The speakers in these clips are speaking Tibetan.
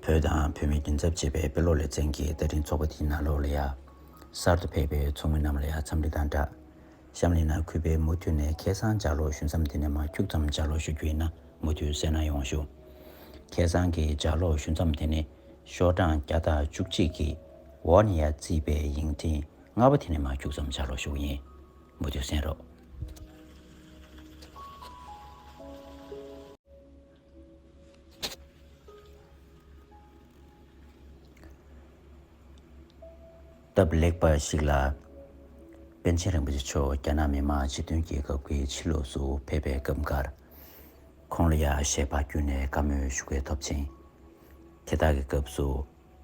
བོད་དང་བོད་མིའི་མདུན་ཚབ་བྱེད་པའི་དཔེ་ཀློག་ལེ་ཚན་གྱི་བརྡ་འཕྲིན་ཚོགས་པ་དེའི་ནང་ལོགས་ལ་ཡ། གསར་དུ་ཕེབས་པའི་ཚོགས་མི་རྣམས་ལ་ཡ་འཚམས་འདྲི་དང་སྦྲགས། གཤམ་གླེང་ནང་གུས་པས་མུ་མཐུད་ནས་ཁེ་བཟང་ལྗགས་ཀློག་ཞུ་མཚམས་འདི་ནས་མ་འཁྱུག་ཙམ་ལྗགས་ཀློག་ཞུ་རྒྱུ་ཡིན་ན་མུ་མཐུད་གསན་གནང་ཡོང་ཞུ། ཁེ་བཟང་གི་ལྗགས་ཀློག་ཞུ་མཚམས་དེ་ནི་ཤོག་གྲངས་བརྒྱ་དང་བཅུ་གཅིག་གི་ཝོ་ནི་ཡ་རྩིས་པའི་ཡིག་འཕྲིན་ལྔ་པ་དེ་ནས་མ་འཁྱུག་ཙམ་ལྗགས་ཀློག་ཞུ་རྒྱུ་ཡིན། མོ་ཆུ་སྲིན་རོ། སྟབས་ལེགས་པ་ཞིག་ལ། པཎ་ཆེན་རིན་པོ་ཆེ་མཆོག་རྒྱ་ནག་མི་དམངས་སྤྱི་མཐུན་རྒྱལ་ཁབ་ཀྱི་ཕྱི་ལོགས་སུ་ཕེབས་པའི་སྐབས་འགར། ཁོང་ལ་ཡ་ཞེས་པ་བརྒྱུད་ནས་བཀའ་མོལ་ཞུ་སྐལ་ཐོབ་ཅིང། དེ་དག་གི་སྐབས་སུ།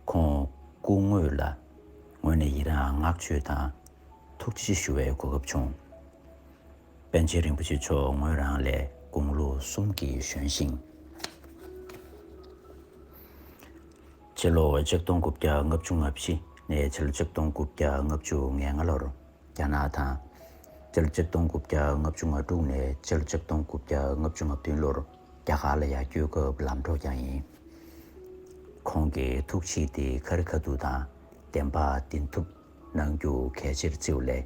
ཁོང་སྐུ་དངོས་ལ་ངོས་ནས་ཡི་རངས་བསྔགས་བརྗོད་དང་ཐུགས་རྗེ་ཆེ་ཞུ་བའི་གོ་སྐབས་བྱུང། པཎ་ཆེན་རིན་པོ་ཆེ་མཆོག་ངོས་རང་ལས་དགུང་ལོ་གསུམ་གྱིས་གཞོན་ཞིང། ཕྱི་ལོ་ཆིག་སྟོང་དགུ་བརྒྱ་ལྔ་བཅུ་ལྔ་བཞི་ནས་ཕྱི་ལོ་ཆིག་སྟོང་དགུ་བརྒྱ་ལྔ་བཅུ་ང་ལྔ་ལོར་རྒྱ་ནག་དང། ཕྱི་ལོ་ཆིག་སྟོང་དགུ་བརྒྱ་ལྔ་བཅུ་ང་དྲུག་ནས་ཕྱི་ལོ་ཆིག་སྟོང་དགུ་བརྒྱ་ལྔ་བཅུ་ང་བདུན་ལོར་རྒྱ་གར་ལ་ཡར་སྐྱོད་སྐབས་ལམ་གྲོགས་ཀྱང་ཡིན། ཁོང་གིས་ཐུགས་ཆེས་ཏེ་ཁར་ཁ་ཐུག་དང་བདེན་པ་བདེན་ཐུབ་གནང་རྒྱུ་གལ་ཆེར་བརྩི་བ་ལས།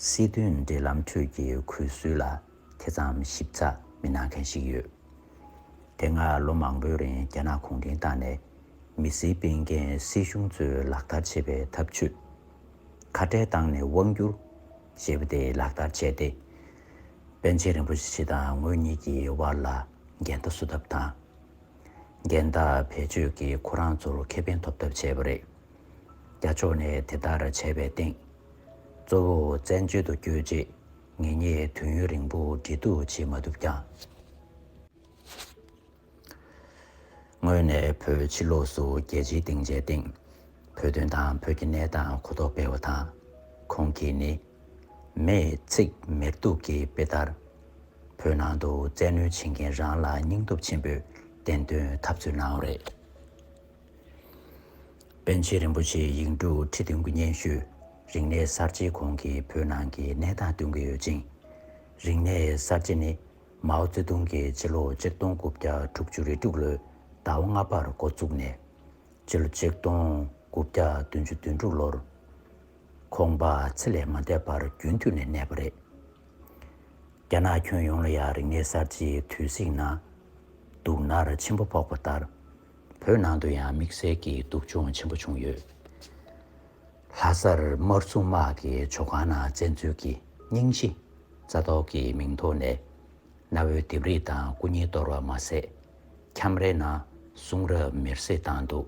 སྲིད་དོན་འབྲེལ་ལམ་ཁྲོད་ཀྱི་གུས་སྲོལ་ལ་དེ་ཙམ་ཞིབ་ཚགས་མི་གནང་མཁན་ཞིག་ཡོད་དེ། སྔར་ལོ་མང་པོའི་རིང་རྒྱ་ནག་གུང་ཁྲན་ཏང་ནས་མི་སེར་སྤེལ་མཁན་སྲིད་གཞུང་གཙོས་ལག་བསྟར་བྱེད་པའི་ཐབས་ཇུས། ཁ་བྲལ་བཏང་ནས་དབང་བསྒྱུར། ཞེས་པ་དེ་ལག་བསྟར་བྱས་ཏེ། པཎ་ཆེན་རིན་པོ་ཆེ་དང་ངོས་གཉིས་ཀྱི་དབར་ལ་འགལ་ཟླ་བཟོ་ཐབས་དང་འགལ་ཟླ་བེད་སྤྱོད་ཀྱིས་ཁོ་རང་ཚོར་ཁེ་ཕན་ཐོབ་ཐབས་བྱས་པ་རེད། རྒྱ་ཕྱོགས་ནས་དེ་ལྟར་བྱས་པའི་སྟེང། གཙོ་བོ་བཙན་བྱོལ་དུ་བསྐྱོད་རྗེས་ངེད་གཉིས་དུས་ཡུན་རིང་པོ་འབྲེལ་གཏུག་བྱེད་མ་ཐུབ་ཀྱང། དངོས་ནས་བོད་ཕྱི་ལོགས་སུ་རྒྱལ་སྤྱིའི་སྡིངས་ཆའི་སྟེང། བོད་དོན་དང་བོད་ཀྱི་གནས་སྟངས་གོ་རྟོགས་སྤེལ་བ་དང། ཁོང་གིས་ནི། མེས་ཚིག་མེར་གཏུགས་ཀྱི་དཔེ་ལྟར། བོད་ནང་དུ་བཙན་གནོན་བྱེད་མཁན་རང་ལ་སྙིང་སྟོབས་ཆེན་པོས་བདེན་དོན་འཐབ་རྩོད་གནང་བ་རེད། པཎ་ཆེན་རིན་པོ་ཆེའི་ཡིག་འབྲུ་ཁྲི་བདུན་གྱི་སྙན་ཞུ་རིག་གནས་གསར་བརྗེའི་གོང་གི་བོད་ནང་གི་གནས་སྟངས་སྟོན་གྱི་ཡོད་ཅིང། རིག་གནས་གསར་བརྗེ་ནི་མའོ་ཙེ་ཏུང་གིས་སྤྱི་ལོ་གཅིག་སྟོང་དགུ་བརྒྱ་དྲུག་ཅུ་རེ་དྲུག་ལོའི་ཟླ་བ་ལྔ་པར་འགོ་བཙུགས་ནས། སྤྱི་ལོ་གཅིག་སྟོང་དགུ་བརྒྱ་བདུན་ཅུ་དོན་དྲུག་ལོར། ཁོང་པ་ཚེ་ལས་མ་འདས་པར་རྒྱུན་མཐུད་ནས་གནས་པ་རེད། རྒྱ་ནག་ཁྱོན་ཡོངས་ལ་ཡང་རིག་གནས་གསར་བརྗེའི་དུས་ཚིགས་ན། སྡུག་ནར་ཆེན་པོ་ཕོག་པ་ལྟར། བོད་ནང་དུ་ཡང་དམིགས་བསལ་གྱི་སྡུག་སྦྱོང་ཆེན་པོ་བྱུང་ཡོད། ལྷ་སར་དམར་གསུམ་དམག་གི་ཇོ་ཁང་ནང་བཙན་འཛུལ་གྱི་རྙིང་གཞི་རྩ་གཏོར་གྱི་མིང་ཐོག་ནས་གནའ་བོའི་ལྡེབས་རིས་དང་སྐུ་བརྙན་གཏོར་བ་མ་ཟད། ཁྱམས་རའི་ནང་གསུང་རབ་མེར་བསྲེགས་བཏང་འདུག།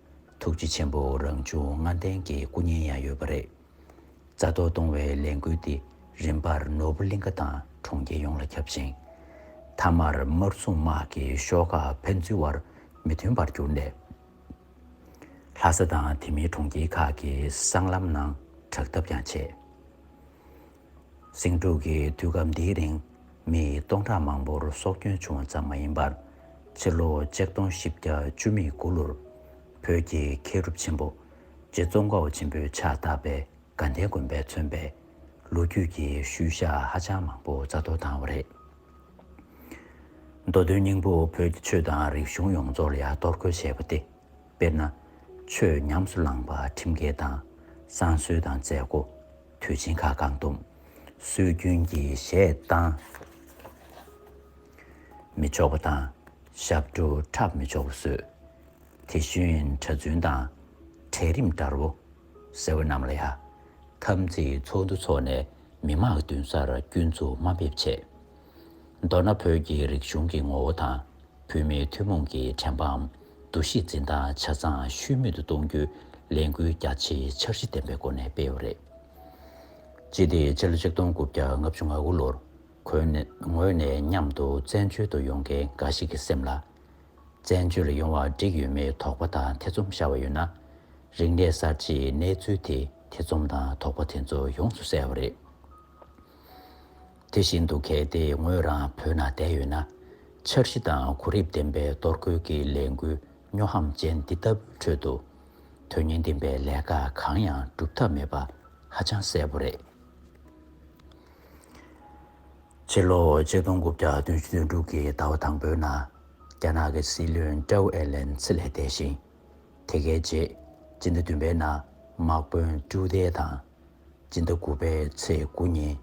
ཐུགས་རྗེ་ཆེན་པོ་རང་བྱུང་ལྔ་ལྡན་གྱི་སྐུ་བརྙན་ཡང་ཡོད་པ་རེད། རྩ་གཏོར་གཏོང་བའི་ལས་འགུལ་དེ་རིམ་པར་ནོར་བུ་གླིང་ཁ་དང་གྲོང་ཁྱེར་ཡོངས་ལ་ཁྱབ་ཅིང། མཐའ་མར་དམར་སྲུང་དམག་གི་ཤོག་ཁག་ཕན་ཚུན་བར་མི་མཐུན་པར་གྱུར་ནས། ལྷ་ས་དང་དེ་མིན་གྲོང་ཁྱེར་ཁག་གི་སྲང་ལམ་ནང་དྲག་འཐབ་ཀྱང་བྱས། ཟིང་འཁྲུག་གི་དུས་སྐབས་འདིའི་རིང་མི་སྟོང་ཕྲག་མང་པོར་སྲོག་སྐྱོན་བྱུང་བ་ཙམ་མ་ཡིན་པར། ཕྱི་ལོ་ཆིག་སྟོང་བཞི་བརྒྱ་བཅུ་མེད་དགུ་ལོར་བོད་ཀྱི་མཁས་གྲུབ་ཆེན་པོ་རྗེ་བཙོན་ཁའོ་ཆེན་པོའི་ཕྱག་རྟགས་པའི་དགའ་ལྡན་དགོན་པས་མཚོན་པའི་ལོ་རྒྱུས་ཀྱི་ཤུལ་བཞག་ཧ་ཅང་མང་པོ་རྩ་གཏོར་བཏང་བ་རེད། མདོ་དོན་སྙིང་པོ་བོད་ཀྱི་ཆོས་དང་རིག་གཞུང་ཡོངས་རྫོགས་ལ་ཡ་གཏོར་རྒོལ་བྱས་པ་སྟེ། དཔེར་ན། ཆོས་ཉམས་སུ་བླངས་པ་ཁྲིམས་འགལ་དང། བསང་གསོལ་དང་མཛད་སྒོ་དུས་ཆེན་ཁག་བཀག་སྡོམ་སྲོལ་རྒྱུན་གྱི་གཞས་གཏང་མི་ཆོག་པ་དང་ཞབས་བྲོ་འཁྲབ་མི་ཆོག་པ་བཟོས། དེ་བཞིན་གྲྭ་བཙུན་དང་གྲལ་རིམ་དགྲ་བོ་ཟེར་བ་རྣམས་ལ་ཡང་འཐབ་འཛིང་ཚོགས་འདུ་འཚོགས་ནས་མི་མང་གི་མདུན་སར་སྐྱོན་འཛུགས་དམའ་འབེབས་བྱས། མདོར་ན་བོད་ཀྱི་རིག་གཞུང་གི་ངོ་བོ་དང་བོད་མིའི་ཐུན་མོང་གི་དྲན་པའམ་འདུ་ཤེས་འཛིན་སྟངས་ཆ་ཚང་ཤུལ་མེད་དུ་གཏོང་རྒྱུའི་ལས་འགུལ་རྒྱ་ཆེའི་འཆར་གཞི་ལྡན་པའི་སྒོ་ནས་སྤེལ་བ་རེད། སྤྱི་ཏི་སྤྱི་ལོ་གཅིག་སྟོང་དགུ་བརྒྱ་ལྔ་བཅུ་ང་དགུ་ལོར་ཁོའི་ངོས་ནས་མཉམ་དུ་བཙན་བྱོལ་དུ་ཡོང་མཁན་འགའ་ཞིག་གི་སེམས་ལ། བཙན་བྱོལ་ལ་ཡོང་བར་འགྲིག་ཡོད་མེད་དོགས་པ་དང་ཐེ་ཚོམ་ཤར་བ་ཡོད་ན། རིག་གནས་གསར་བརྗེའི་གནས་ཚུལ་དེས་ཐེ་ཚོམ་དང་དོགས་པ་དེ་ཚོ་ཡོངས་སུ་བསལ་བ་རེད། དེ་བཞིན་དུ་གལ་ཏེ་ངོས་རང་བོད་ན་བསྡད་ཡོད་ན། འཆར་གཞི་དང་གོ་རིམ་ལྡན་པའི་གཏོར་རྒོལ་གྱི་ལས་འགུལ་སྨྱོ་ཧམ་ཅན་འདི་ལྟ་བུའི་ཁྲོད་དུ། དོན་སྙིང་ལྡན་པའི་ལས་ཀ་གང་ཡང་སྒྲུབ་ཐབས་མེད་པ་ཧ་ཅང་གསལ་པོ་རེད། ཕྱི་ལོ་ཆིག་སྟོང་དགུ་བརྒྱ་དོན་བཞི་དོན་དྲུག་གི་ཟླ་བ་དང་པོའི་ནང། རྒྱ་ནག་གི་སྲིད་བློན་ཀྲའུ་ཨེ་ལན་སི་ལས་འདས་ཤིང། དེ་གའི་རྗེས་ཕྱི་ཟླ་བདུན་པའི་ནང་དམག་དཔོན་ཀྲུའུ་ཏའེ་དང། སྤྱི་ཟླ་དགུ་པའི་ཚེས་དགུ་ཉིན་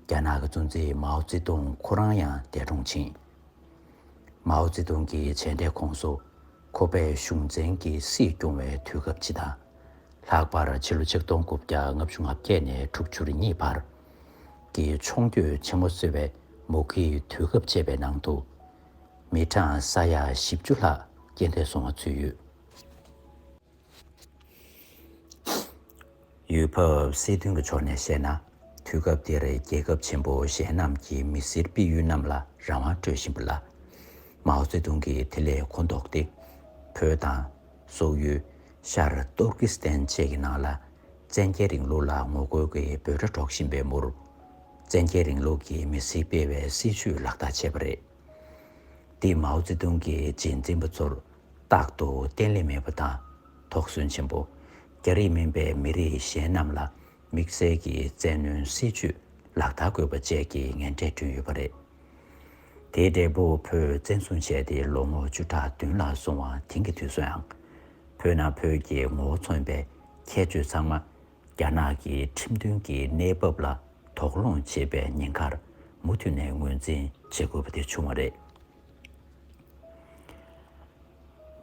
རྒྱ་ནག་གི་གཙོ་འཛིན་མའོ་ཙེ་ཏུང་ཁོ་རང་ཡང་འདས་གྲོངས་ཕྱིན། མའོ་ཙེ་ཏུང་གི་མཇལ་འཕྲད་ཁོངས་སུ་ཁོ་པས་གཞུང་བཙན་གྱི་སྲིད་སྐྱོང་བའི་དུས་སྐབས་སྤྱི་དང། ལྷག་པར་ཕྱི་ལོ་ཆིག་སྟོང་དགུ་བརྒྱ་ལྔ་བཅུ་ང་བརྒྱད་ནས་དྲུག་ཅུ་རེ་གཉིས་བར་གྱི་མཆོང་སྐྱོད་ཆེན་མོ་གསོལ་བའི་མུ་གེའི་དུས་སྐབས་བཅས་པའི་ནང་དུ་མི་གྲངས་ས་ཡ་བཞི་བཅུ་ལྷག་རྐྱེན་འདས་སོང་བ་ཚུད་ཡོད། ཡུལ་བབ་སྲིད་དོན་གྱི་ཕྱོགས་ནས་བཤད་ན། དུས་སྐབས་དེར་རྒྱལ་ཁབ་ཆེན་པོ་གཞན་རྣམས་ཀྱིས་མི་སེར་སྤེལ་ཡུལ་རྣམས་ལ་རང་དབང་སྤྲོད་བཞིན་པ་ལ། མའོ་ཙེ་ཏུང་གིས་དེ་ལས་གོ་ལྡོག་སྟེ། བོད་དང། སོག་ཡུལ། ཤར་ཏུར་ཀི་སི་ཐན་བཅས་ཀྱི་ནང་ལ། བཙན་རྒྱལ་རིང་ལུགས་ལ་ངོ་རྒོལ་གྱི་འབོད་སྒྲ་སྒྲོག་བཞིན་པའི་མུར། བཙན་རྒྱལ་རིང་ལུགས་ཀྱི་མི་སེར་སྤེལ་བའི་སྲིད་བྱུས་ལག་བསྟར་བྱས་པ་རེད། དེས་མའོ་ཙེ་ཏུང་གིས་རྗེས་འཛིན་པ་ཚོར་རྟག་ཏུ་བརྟན་ལྷིང་མེད་པ་དང་དོགས་ཟོན་ཆེན་པོ། རྒྱ་རིགས་མིན་པའི་མི་རིགས་གཞན་རྣམས་ལ་དམིགས་བསལ་གྱི་བཙན་གནོན་སྲིད་ཇུས་ལག་བསྟར་དགོས་པ་བཅས་ཀྱི་ངན་འབྲས་བསྐྲུན་ཡོད་པ་རེད། དེའི་འབྲས་བུ་བོད་བཙན་བཟུང་བྱས་ཏེ་ལོ་ངོ་བཅུ་ཕྲག་བདུན་ལ་སོང་བ་དེང་གི་དུས་སུའང། བོད་ནང་བོད་ཀྱི་ངོ་བོ་མཚོན་པའི་ཁྱད་ཆོས་ཚང་མ་རྒྱ་ནག་གི་ཁྲིམས་མཐུན་གྱི་གནས་བབ་ལ་དོགས་སློང་བྱེད་པའི་ཉེན་ཁར་མུ་མཐུད་ནས་ངོས་འཛིན་བྱེད་དགོས་པ་དེ་བྱུང་བ་རེད།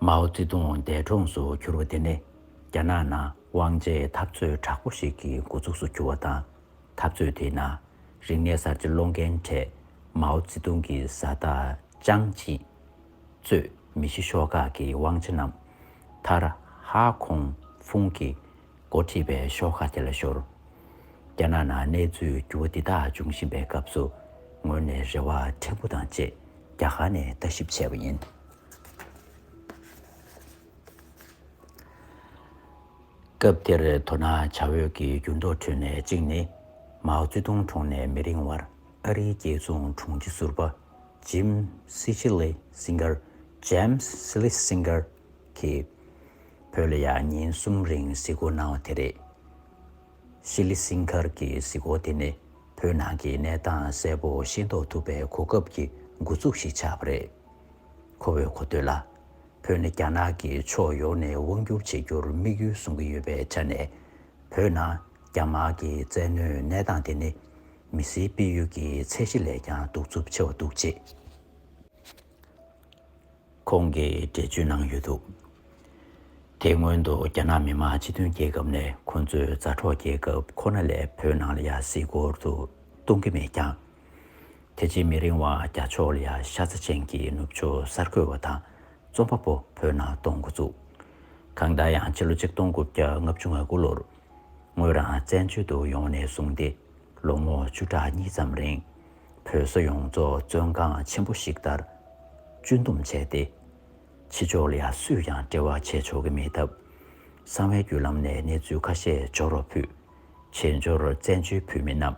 མའོ་ཙེ་ཏུང་འདས་གྲོངས་སུ་གྱུར་བ་དེ་ནི་རྒྱ་ནག་ནང་དབང་ཆའི་འཐབ་རྩོད་དྲག་པོ་ཞིག་གི་འགོ་ཚུགས་སུ་གྱུར་བ་དང། འཐབ་རྩོད་དེའི་ནང་རིག་གནས་གསར་བརྗེ་སློང་མཁན་གྲས་མའོ་ཙེ་ཏུང་གི་བཟའ་ཟླ་ཅང་ཅིས། གཙོས་མི་བཞི་ཤོག་ཁག་གི་དབང་ཆ་རྣམས་མཐར་ཧྭ་ཁོང་ཧྥུང་གི་འགོ་ཁྲིད་པས་ཤོག་ཁག་དེ་ལ་ཤོར། རྒྱ་ནག་ནང་གནས་ཚུལ་འགྱུར་བ་འདི་དག་འབྱུང་བཞིན་པའི་སྐབས་སུ་ངོས་ནས་རེ་བ་ཕྲན་བུ་དང་བཅས་རྒྱ་གར་ནས་ལྟ་ཞིབ་བྱས་པ་ཡིན། སྐབས་དེར་དོ་སྣང་བྱ་འོས་ཀྱི་འགྱུར་ལྡོག་ཁྲོད་ནས་གཅིག་ནི། མའོ་ཙེ་ཏུང་གྲོངས་ནས་མི་རིང་བར་ཨ་རིའི་རྒྱལ་བཙུན་དྲུང་ཆེ་ཟུར་པ Jim Sicily Singer James Sicily Singer གྱིས། བོད་ལ་ཡང་ཉིན་གསུམ་རིང་གཟིགས་སྐོར་གནང་བ་དེ་རེད། ཤི་ལི་སིང་གྷར་གྱི་གཟིགས་སྐོར་དེ་ནི་བོད་ནང་གི་གནས་སྟངས་གསལ་པོ་ཤེས་རྟོགས་ཐུབ་པའི་གོ་སྐབས་ཀྱི་འགོ་ཚུགས་ཤིག་ཆགས་པ་རེད། ཁོ་བོས་གོ་ཐོས་ལ། བོད་ནི་རྒྱ་ནག་གིས་ཕྱོགས་ཡོངས་ནས་དབང་བསྒྱུར་བྱེད་རྒྱུར་དམིགས་ཡུལ་བཟུང་གི་ཡོད་པའི་ཆ་ནས། བོད་ནང་རྒྱ་དམག་གི་བཙན་གནོན་གནས་སྟངས་དེ་ནི། མི་སེར་སྤེལ་ཡུལ་གྱི་ཚད་གཞི་ལས་ཀྱང་གདུག་རྩུབ་ཆེ་བ་འདུག་ཅེས། ཁོང་གིས་འགྲེལ་བརྗོད་གནང་ཡོད་འདུག་དེ་སྔོན་དུ་རྒྱ་ནག་མི་དམངས་སྤྱི་མཐུན་རྒྱལ་ཁབ་ནས་ཁོ་ཚོས་མཛའ་གྲོགས་རྒྱལ་ཁབ་ཁོ་ན་ལས་བོད་ནང་ལ་ཡར་བསྲིས་སྐོར་དུ་གཏོང་གི་མེད་ཀྱང། དེ་རྗེས་མི་རིང་བ་རྒྱ་ཕྱོགས་ལ་ཡར་ཤ་ཚ་ཅན་གྱི་ནུབ་ཕྱོགས་གསར་འགོད་པ་དང་རྩོམ་པ་པོ་བོད་ནང་གཏོང་འགོ་བཙུགས། གང་ལྟར་ཡང་ཕྱི་ལོ་ཆིག་སྟོང་དགུ་བརྒྱ་ལྔ་བཅུ་ང་དགུ་ལོར་ངོས་རང་བཙན་བྱོལ་དུ་ཡོང་བ་ནས་བཟུང་སྟེ་ལོ་ངོ་བཅུ་ཕྲག་གཉིས་ཙམ་རིང་བོད་ས་ཡོངས་རྫོགས་བཙོན་ཁང་ཆེན་པོ་ཞིག་ལྟར་གཅུན་འདོམས་བྱས་ཏེ། ཕྱི་ཕྱོགས་ལ་ཡང་སུས་ཀྱང་འབྲེལ་བ་བྱས་ཆོག་གི་མེད་སྟབས། གསང་བའི་བརྒྱུད་ལམ་ནས་གནས་ཚུལ་ཁ་ཤས་འབྱོར་བ་ཕུད། བྱེས་འབྱོར་བཙན་བྱོལ་བོད་མི་རྣམས་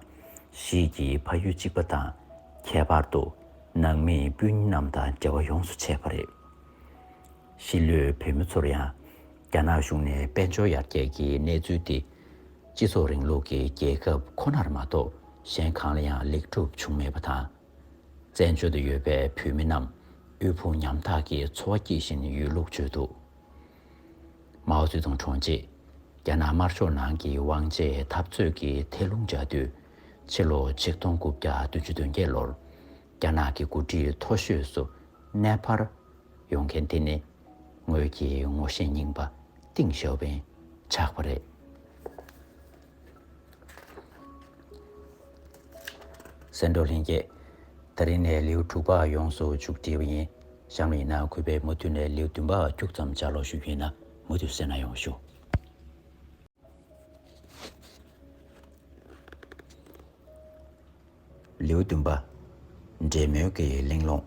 གཞིས་ཀྱི་ཕ་ཡུལ་གཅིག་པ་དང་ཁྱད་པར་དུ་ནང་མི་སྤུན་རྣམས་དང་འབྲེལ་བ་ཡོངས་སུ་ཆད་པ་རེད། གཞིས་ལུས་བོད་མི་ཚོར་ཡང་རྒྱ་ནག་གཞུང་ནས་དཔལ་འབྱོར་ཡར་རྒྱས་ཀྱི་གནས་ཚུལ་དེ་སྤྱི་ཚོགས་རིང་ལུགས་ཀྱི་རྒྱལ་ཁབ་ཁོ་ནར་མ་གཏོགས་གཞན་གང་ལ་ཡང་ལེགས་གྲུབ་བྱུང་མེད་པ་དང། བཙན་བྱོལ་དུ་ཡོད་པའི་བོད་མི་རྣམས་དབུལ་ཕོངས་ཉམ་ཐག་གི་འཚོ་བ་སྐྱེལ་བཞིན་ཡོད་ལུགས་བརྗོད་འདུག་མའོ་ཙེ་ཏུང་གྲོངས་རྗེས་རྒྱ་ནག་དམར་ཕྱོགས་ནང་གི་དབང་ཆའི་འཐབ་རྩོད་ཀྱི་ཐལ་རླུང་འཇགས་དུས་ཕྱི་ལོ་ཆིག་སྟོང་དགུ་བརྒྱ་བདུན་ཅུ་དོན་བརྒྱད་ལོར་རྒྱ་ནག་གི་འགོ་ཁྲིད་མཐོ་ཤོས་སུ་གནས་སྤར་ཡོང་མཁན་དེ་ནི་ངོས་ཀྱི་ངོ་ཤེས་རྙིང་པ་ཏིང་ཞོ་བན་ཆགས་པ་རེད། སེང་འབྲོག་ལྷན་རྒྱས། ད་རིང་ནས་ལེའུ་དྲུག་པ་ཡོངས་སུ་བཅུག་བྲིས་པ་ཡིན། གཤམ་ཡིན་ན་གུས་པས་མུ་མཐུད་ནས་ལེའུ་བདུན་པ་བཅུག་མཚམས་སྦྱར་ལོག་ཞུ་རྒྱུ་ཡིན་ན་མུ་མཐུད་གསན་ན་ཡོང་ཞུ། ལེའུ་བདུན་པ། འབྲེལ་མོལ་གྱི་གླེང་སློང།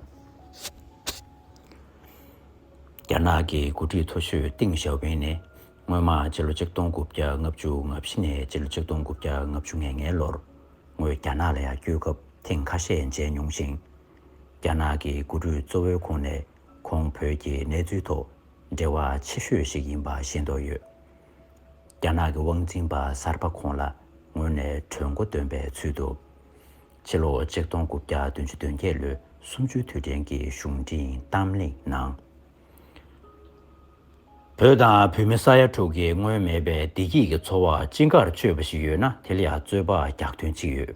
རྒྱ་ནག་གི་འགོ་ཁྲིད་མཐོ་ཤོས་ཏིང་ཞའོ་ཕིང་ནི་སྔོན་མ་སྤྱི་ལོ་ཆིག་སྟོང་དགུ་བརྒྱ་ལྔ་བཅུ་ང་བཞི་ནས་སྤྱི་ལོ་ཆིག་སྟོང་དགུ་བརྒྱ་ལྔ་བཅུ་ང་ལྔའི་ལོར་ངོས་རྒྱ་ནག་ལ་ཡང་བསྐྱོད་སྐབས་ཐེངས་ཁ་ཤས་མཇལ་མྱོང་ཞིང། རྒྱ་ནག་གི་འགོ་ཁྲིད་གཙོ་བོའི་ཁོངས་ནས་ཁོང་བོད་ཀྱི་གནས་ཚུལ་ཐོག་འབྲེལ་བ་ཆེ་ཤོས་ཤིག་ཡིན་པ་ཤེས་རྟོགས་ཡོད། རྒྱ་ནག་གི་དབང་འཛིན་པ་གསར་པ་ཁོང་ལ་ངོས་ནས་གྲོས་འགོ་འདོན་པའི་ཚུལ་དུ། ཕྱི་ལོ་ཆིག་སྟོང་དགུ་བརྒྱ་བདུན་ཅུ་དོན་བརྒྱད་ལོའི་གསུམ་བཅུའི་དུས་དྲན་གྱི་གཞུང་འབྲེལ་གཏམ་གླེང་ནང། བོད་དང་བོད་མི་ས་ཡ་དྲུག་གི་སྔོན་མེད་པའི་བདེ་སྐྱིད་ཀྱི་འཚོ་བར་ཅི་དགར་སྤྱོད་པ་ཞིག་ཡོད་ན་དེ་ལ་ཡང་རྩོད་པ་རྒྱག་དོན་ཅི་ཡོད།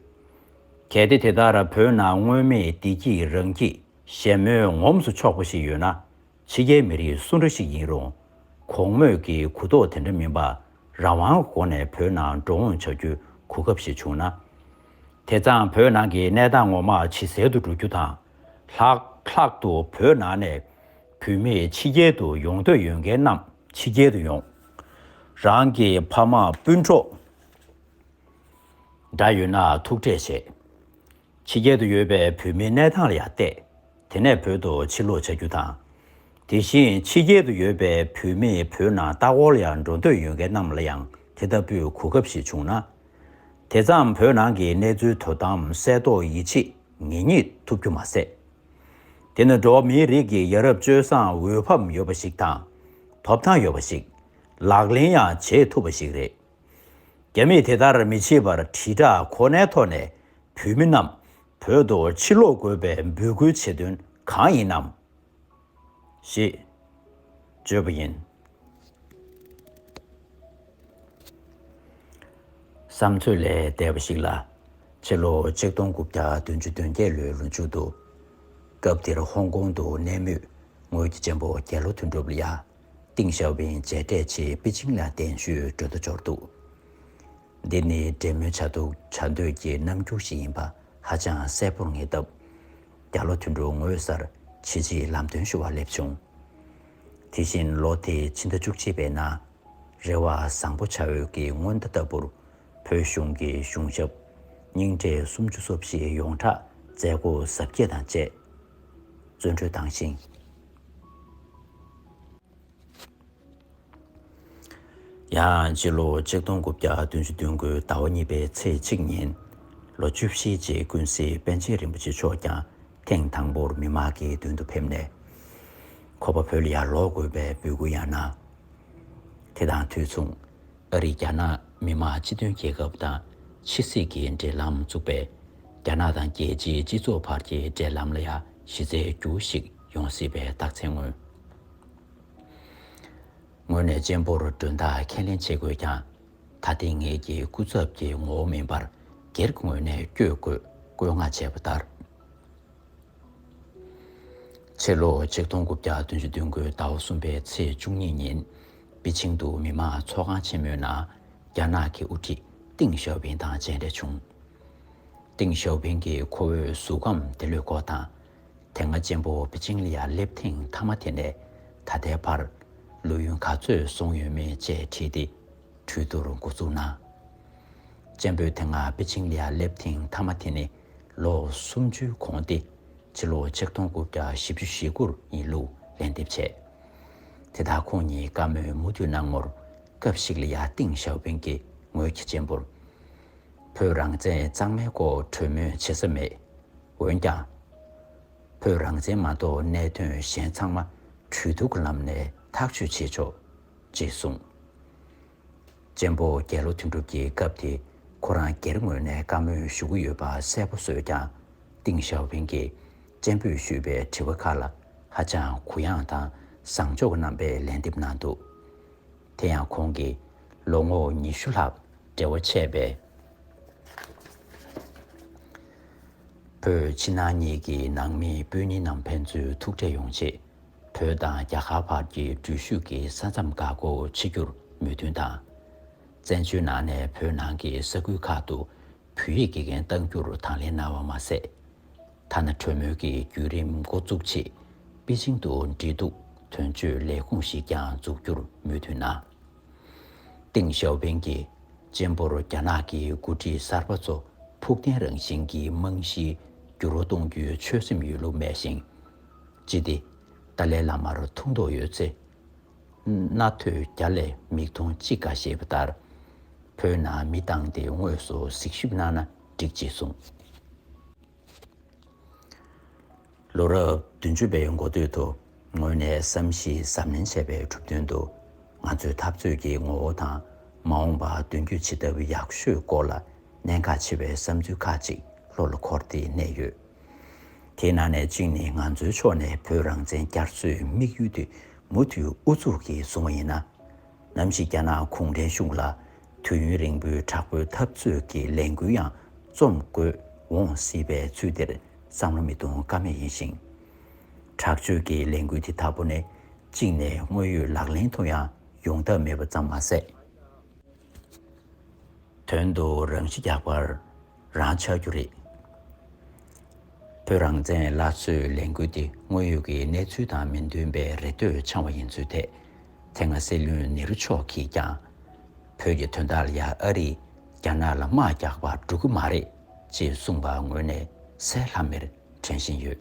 གལ་ཏེ་དེ་ལྟར་བོད་ནང་སྔོན་མེད་བདེ་སྐྱིད་རང་སྐྱིད་ཞལ་མོས་ངོམས་སུ་ཆོག་པ་ཞིག་ཡོད་ན། ཕྱི་རྒྱལ་མི་རིགས་སུ་འདྲ་ཞིག་ཡིན་རུང། གོང་སྨོས་ཀྱི་གུ་དོག་དེ་འདྲ་མིན་པར་རང་དབང་སྒོ་ནས་བོད་ནང་འགྲོ་འོང་བྱ་རྒྱུའི་གོ་སྐབས་ཤིག་བྱུང་ན། དེ་ཙམ་བོད་ནང་གི་གནས་སྟངས་ངོ་མ་ཇི་གསལ་དུ་འགྲོ་རྒྱུ་དང། ལྷག་ལྷག་ཏུ་བོད་ནང་ནས་བུད་མེད་ཕྱི་རྒྱལ་དུ་ཡོང་འདོད་ཡོད་མཁན་རྣམས་ཕྱི་རྒྱལ་དུ་ཡོང། རང་གི་ཕ་མ་སྤུན་གྲོགས་འདྲ་ཡོད་ན་ཐུག་འཕྲད་བྱེད། ཕྱི་རྒྱལ་དུ་ཡོད་པའི་བོད་མིའི་གནས་སྟངས་ལ་ཡང་བལྟས། དེ་ནས་བོད་དུ་ཕྱིར་ལོག་བྱ་རྒྱུ་དང། དེ་བཞིན་ཕྱི་རྒྱལ་དུ་ཡོད་པའི་བོད་མིས་བོད་ནང་ལྟ་སྐོར་ལ་ཡང་འགྲོ་འདོད་ཡོད་མཁན་རྣམས་ལ་ཡང་དེ་ལྟ་བུའི་གོ་སྐབས་ཤིག་བྱུང་ན། དེ་ཙམ་བོད་ནང་གི་གནས་ཚུལ་དོ་དམ་གསལ་རྟོགས་ཡིད་ཆེས་ངེས་རྙེད་ཐུབ་རྒྱུ་མ་ཟད། དེ་ནི་འགྲོ་བ་མིའི་རིགས་ཀྱི་ཡ་རབས་སྤྱོད་བཟང་འོས་འཕམ་ཡོད་པ་ཞིག་དང། ཐོབ་ཐང་ཡོད་པ་ཞིག། ལག་ལེན་ཡང་བྱེད་ཐུབ་པ་ཞིག་རེད། རྒྱ་མིས་དེ་ལྟར་མི་བྱེད་པར་དྲིལ་བསྒྲགས་ཁོ་ནའི་ཐོག་ནས་བོད་མི་རྣམས་བོད་དུ་ཕྱིར་ལོག་དགོས་པའི་འབོད་སྐུལ་བྱེད་དོན་གང་ཡིན་ནམ། ཞེས་བརྗོད་པ་ཡིན། བསམ་ཚོད་ལས་འདས་པ་ཞིག་ལ། ཕྱི་ལོ་ཆིག་སྟོང་དགུ་བརྒྱ་བདུན་ཅུ་དོན་བརྒྱད་ལོའི་ལོ་མཇུག་ཏུ། སྐབས་དེར་ཧོང་ཀོང་དུ་གནས་མུས་དངུལ་གྱི་གཅེན་པོ་རྒྱལ་ལོ་དོན་གྲུབ་ལི་ཡཱ། ཏིང་ཞའོ་ཕིང་མཇལ་འཕྲད་ཆེད་པེ་ཅིང་ལ་གདན་ཞུས་གྲོས་བསྡུར་འབྱོར་འདུག་འདི་ནི་འབྲེལ་མོལ་བྱ་འདུག་བྱ་འདོད་ཀྱི་རྣམ་འགྱུར་ཞིག་ཡིན་པ་ཧ་ཅང་གསལ་པོར་ངེས་སྟབས། བརྒྱ་ལོ་དུས་འགྲོ་ངོ་སར་བྱེད་ཆེད་ལམ་སྟོན་ཞུ་བར་སླེབས་བྱུང། དེ་བཞིན་ལོ་དེའི་ཕྱི་ཟླ་བཅུ་གཅིག་པའི་ནང། རེ་བ་བཟང་པོ་བྱ་འོས་ཀྱི་སྔོན་བརྡ་ལྟ་བུར་བོད་གཞུང་གི་གཞུང་ཞབས་རྙིང་གྲས་སུམ་ཅུ་སོ་བཞི་ཡོངས་གྲགས་མཛད་སྒོ་གཟབ་རྒྱས་དང་བཅས་བཙོན་གྲོལ་བཏང་ཞིང། ཡང་སྤྱི་ལོ་ཆིག་སྟོང་དགུ་བརྒྱ་བདུན་ཅུ་བདུན་དགུའི་ཟླ་བ་གཉིས་པའི་ཚེས་གཅིག་ཉིན། ལོ་བཅུ་བཞིའི་རྗེས་ཀུན་གཟིགས་པཎ་ཆེན་རིན་པོ་ཆེ་མཆོག་ཀྱང་ཐེངས་དང་པོར་མི་མང་གི་མདུན་དུ་ཕེབས་ནས། ཁོ་པ་བོད་ལ་ཡར་ལོག་དགོས་པའི་འབོད་སྐུལ་ཡང་གནང། དེ་དང་དུས་མཚུངས། ཨ་རིས་རྒྱ་ནག་མི་མང་སྤྱི་མཐུན་རྒྱལ་ཁབ་དང་ཕྱི་སྲིད་ཀྱི་འབྲེལ་ལམ་བཙུགས་པས། རྒྱ་ནག་དང་རྒྱལ་སྤྱིའི་སྤྱི་ཚོགས་བར་གྱི་འབྲེལ་ལམ་ལ་ཡང་གཞི་རྩའི་འགྱུར་བ་ཞིག་ཡོང་སྲིད་པའི་རྟགས་མཚན་མངོན། ངོས་ནས་གཅེན་པོར་མགྲོན་བདག་ཁས་ལེན་བྱེད་དགོས་ཀྱང། ད་ལྟའི་ངེད་ཀྱི་སྐུ་ཚབ་ཀྱི་ངོ་བོ་མིན་པར་སྒེར་གྱི་ངོས་ནས་བསྐྱོད་དགོས་བཀོད་མངགས་བྱས་པ་ལྟར། ཕྱི་ལོ་ཆིག་སྟོང་དགུ་བརྒྱ་བདུན་ཅུ་བདུན་དགུའི་ཟླ་བ་གསུམ་པའི་ཚེས་བཅུ་གཉིས་ཉིན་པེ་ཅིང་དུ་མི་དམངས་ཚོགས་ཁང་ཆེན་མོའི་ནང་རྒྱ་ནག་གི་དབུ་ཁྲིད་ཏིང་ཞའོ་ཕིང་དང་མཇལ་འཕྲད་བྱུང། ཏིང་ཞའོ་ཕིང་གིས་ཁོ་བོའི་གཟུགས་ཁམས་དེ་ལུས་ཁོག་དང་དེ་སྔ་གཅེན་པོ་པེ་ཅིང་ལི་ཡར་སླེབས་ཐེངས་མཐའ་མ་དེ་ནས་ད་ལྟའི་བར། ལོ་ཡུན་ག་ཚོད་སོང་ཡོད་མེད་བཅས་དྲིས་ཏེ་གྲོས་བསྡུར་འགོ་བཙུགས་ན། གཅེན་པོས་དེ་སྔ་པེ་ཅིང་ལི་ཡར་སླེབས་ཐེངས་མཐའ་མ་དེ་ནི་ལོ་སུམ་ཅུའི་གོང་སྟེ་ཕྱི་ལོ་ཆིག་སྟོང་དགུ་བརྒྱ་བཞི་བཅུ་ཞེ་དགུར་ཡིན་ལུགས་ལན་འདེབས་བྱས། དེ་དག་ཁོང་ཉིད་བཀའ་མོལ་མུ་མཐུད་གནང་ངོར་སྐབས་ཤིག་ལི་ཡཱ་ཏིང་ཞའོ་པིང་གིས་ངོས་ཀྱི་གཅེན་པོར། བོད་རང་བཙན་གཙང་མའི་སྐོར་གྲོས་མོལ་བྱེད་ས་མེད། འོན་ཀྱང། བོད་རང་བཙན་མ་གཏོགས་གནད་དོན་གཞན་ཚང་མ་གྲོས་བསྡུར་གྱི་ལམ་ནས་ཐག་གཅོད་བྱེད་ཆོག། ཅེས་གསུངས། ཅན་པོ་རྒྱལ་ལོ་དོན་གྲུབ་ཀྱིས་སྐབས་དེ་ཁོ་རང་སྒེར་ངོས་ནས་བཀའ་མོལ་ཞུ་གི་ཡོད་པ་གསལ་པོ་བཟོས་ཀྱང། ཏིང་ཞའོ་ཕིང་གིས་ཅན་པོས་ཞུས་པའི་དྲི་བ་ཁག་ལ་ཧ་ཅང་གུ་ཡངས་དང་བཟང་ཕྱོགས་ཀྱི་རྣམ་པས་ལན་འདེབས་གནང་འདུག་དེ་ཡང་ཁོང་གིས་ལོ་ངོ་ཉི་ཤུ་ལྷག་འབྲེལ་བ་ཆད་པའི་བོད་ཕྱི་ནང་གཉིས་ཀྱི་ནང་མི་སྤུན་ཉེ་རྣམས་ཕན་ཚུན་ཐུག་འཕྲད་ཡོང་ཆེད། བོད་དང་རྒྱ་གར་བར་གྱི་འགྲུལ་བཞུད་ཀྱི་ས་མཚམས་འགག་སྒོ་ཕྱེ་རྒྱུར་མོས་མཐུན་དང། བཙན་བྱོལ་ནང་ནས་བོད་ནང་གི་ས་ཁུལ་ཁག་ཏུ་བོད་ཡིག་དགེ་རྒན་གཏང་རྒྱུར་དང་ལེན་གནང་བ་མ་ཟད། ཐ་ན་གྲོས་མོལ་གྱི་བརྒྱུད་རིམ་འགོ་འཛུགས་ཆེད་པེ་ཅིང་དུ་འབྲེལ་གཏུག་དོན་གཅོད་ལས་ཁུངས་ཤིག་ཀྱང་འཛུགས་རྒྱུར་མོས་མཐུན་གནང། ཏེང་ཞའོ་ཕིང་གི་གཅེན་པོར་རྒྱ་ནག་གི་འགོ་ཁྲིད་གསར་པ་ཚོ་ཕུགས་བརྟན་རང་བཞིན་གྱི་རྨང་གཞི་འགྱུར་བ་གཏོང་རྒྱུའི་ཆོད་སེམས་ཡོད་ལུགས་སྨྲས་ཤིང། ཅི་སྟེ། ཏཱ་ལའི་བླ་མར་ཐུགས་མདོག་ཡོད་ཚེ། རྣ་ཐོས་རྒྱ་ལས་མིག་མཐོང་ཅི་དགའ་ཞེས་པ་ལྟར། བོད་ནང་མི་བཏང་སྟེ་དངོས་སུ་གཟིགས་ཞིབ་གནང་ན་འགྲིག་ཅེས་གསུངས། ལོ་རབས་བདུན་ཅུ་པའི་འགོ་སྟོད་དུ་ངོས་ནས་བསམ་གཞིགས་གཟབ་ནན་བྱས་པའི་གྲུབ་དོན་དུ། ང་ཚོའི་འཐབ་རྩོད་ཀྱི་ངོ་བོ་དང་མ་འོངས་པ་མདུན་སྐྱོད་ཇི་ལྟ་བུ་ཡག་ཤོས་སྐོར་ལ་གནད་འགག་ཆེ་བའི་བསམ་ཚུལ་ཁག་ཅིག་བློ་ལ་འཁོར་ཏེ་གནས་ཡོད། དེའི་ནང་ནས་གཅིག་ནི་ང་ཚོའི་ཕྱོགས་ནས་བོད་རང་བཙན་བསྐྱར་གསོའི་དམིགས་ཡུལ་དེ་མུ་མཐུད་ཨུ་ཚུགས་ཀྱིས་བཟུང་བ་ཡིན་ན། ནམ་ཞིག་རྒྱ་ནག་གུང་ཁྲན་གཞུང་ལ་དུས་ཡུན་རིང་པོའི་དྲག་པོའི་འཐབ་རྩོད་ཀྱི་ལས་འགུལ་ཡང་རྩོམ་དགོས་འོང་སྲིད་པས་ཚུལ་དེར་བསམ་བློ་མི་གཏོང་ཀ་མེད་ཡིན་ཞིང། དྲག་སྤྱོད་ཀྱི་ལས་འགུལ་དེ་དག་པོ་ནས་གཅིག་ནས་དངོས་ཡོད་ལག་ལེན་དུ་ཡང་ཡོང་ཐབས་མེད་པ་ཙམ་མ་ཟད། དོན་དུ་རང་ཤི་རྒྱག་པར། རང་ཆགས་རྒྱུ་རེད། བོད་རང་བཙན་སླར་གསོའི་ལས་འགུལ་དེ་དངོས་ཡོད་ཀྱི་གནས་ཚུལ་དང་མི་མཐུན་པས་རེ་ལྟོས་འཆང་བ་ཡིན་ཚུལ་ཐད་དེ་སྔ་སྲིད་བློན་ནེ་རུ་མཆོག་གིས་ཀྱང། བོད་ཀྱི་དོན་དག་ལ་ཡང་ཨ་རིས་རྒྱ་ནག་ལ་དམག་རྒྱག་པར་འགྲོ་གི་མ་རེད་ཅེས་གསུངས་པ་དངོས་གནས་གསལ་ལྷམ་མེར་དྲན་བཞིན་ཡོད།